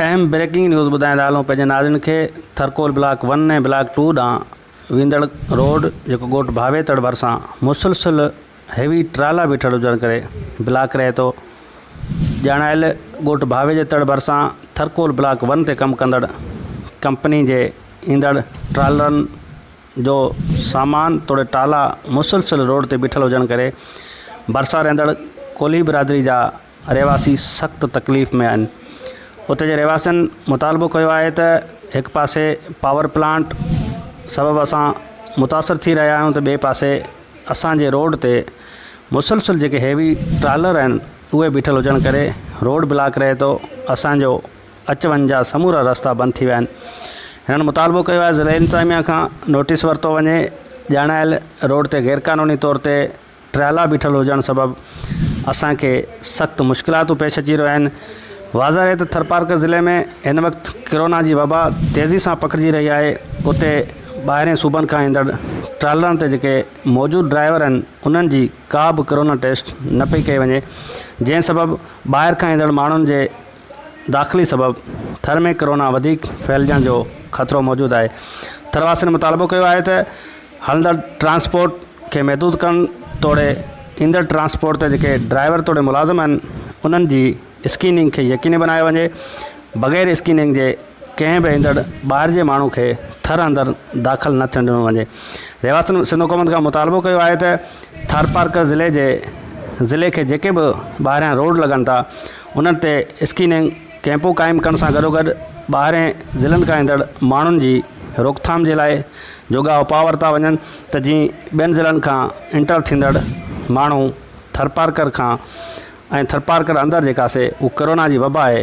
اهم breaking news ٻڌائيندا هلون پنهنجي ناظرين کي Tharcoal block one ۽ block two ڏانهن ويندڙ روڊ جيڪو ڳوٺ ڀاويتڙ ڀرسان مسلسل هيوي ٽرالا بيٺل هجڻ ڪري بلاڪ رهي ٿو ڄاڻايل ڳوٺ ڀاويتڙ ڀرسان ٿرڪول بلاڪ ون تي ڪم ڪندڙ ڪمپني جي ايندڙ ٽرالرن جو سامان توڙي ٽالا مسلسل روڊ تي بيٺل هجڻ ڪري ڀرسان رهندڙ ڪولهي برادري جا رهواسي سخت تڪليف ۾ آهن، اتي جي رهواسين مطالبو ڪيو آهي ته هڪ پاسي پاور پلانٽ سبب اسان متاثر ٿي رهيا آهيون ته ٻئي پاسي اسان جي روڊ تي مسلسل جيڪي هيوي ٽرالر آهن اهي بيٺل هجڻ ڪري روڊ بلاڪ رهي ٿو اسان جو اچ وڃ جا سمورا رستا بند ٿي ويا آهن هنن مطالبو ڪيو آهي ضلعي انتظاميا کان نوٽيس ورتو وڃي ڄاڻايل روڊ تي غيرقانوني طور تي ٽرالا بيٺل هجڻ سبب اسان کي سخت مشڪلاتون پيش اچي رهيون آهن واضح رهي ته ٿرپارڪر ضلعي ۾ هن وقت ڪرونا جي وبا تيزي سان پکڙجي رهي آهي اتي ٻاهرين صوبن کان ايندڙ ٽرالرن تي جيڪي موجود ڊرائيور آهن انهن جي ڪا به ڪرونا ٽيسٽ نه پئي ڪئي وڃي جنهن سبب ٻاهر کان ايندڙ ماڻهن جي داخلي سبب ٿر ۾ ڪورونا وڌيڪ ڦهلجڻ جو خطرو موجود آهي ٿر واسين مطالبو ڪيو آهي ته هلندڙ ٽرانسپورٽ کي محدود ڪرڻ توڙي ايندڙ ٽرانسپورٽ تي جيڪي ڊرائيور توڙي ملازم آهن انهن جي اسڪيننگ کي يقيني بنايو وڃي بغير اسڪيننگ جي ڪنهن به ايندڙ ٻاهر جي ماڻهو کي ٿر اندر داخل نه ٿيڻ ڏنو وڃي رهواسين سنڌ حڪومت کان مطالبو ڪيو آهي ته ٿارپارڪر ضلعي جي ضلعي کي جيڪي به ٻاهريان روڊ لڳن ٿا انهن تي اسڪيننگ ڪئمپون قائم ڪرڻ سان گڏوگڏ ٻاهرين ضلعن کان ايندڙ ماڻهن جي روڪٿام جي لاء جوڳا اپاء ورتا وڃن ته جيئن ٻين ضلعن کان انٽر ٿيندڙ ماڻهو ٿرپارڪر کان ۽ ٿرپارڪر اندر جيڪا سي ڪورونا جي وبا آهي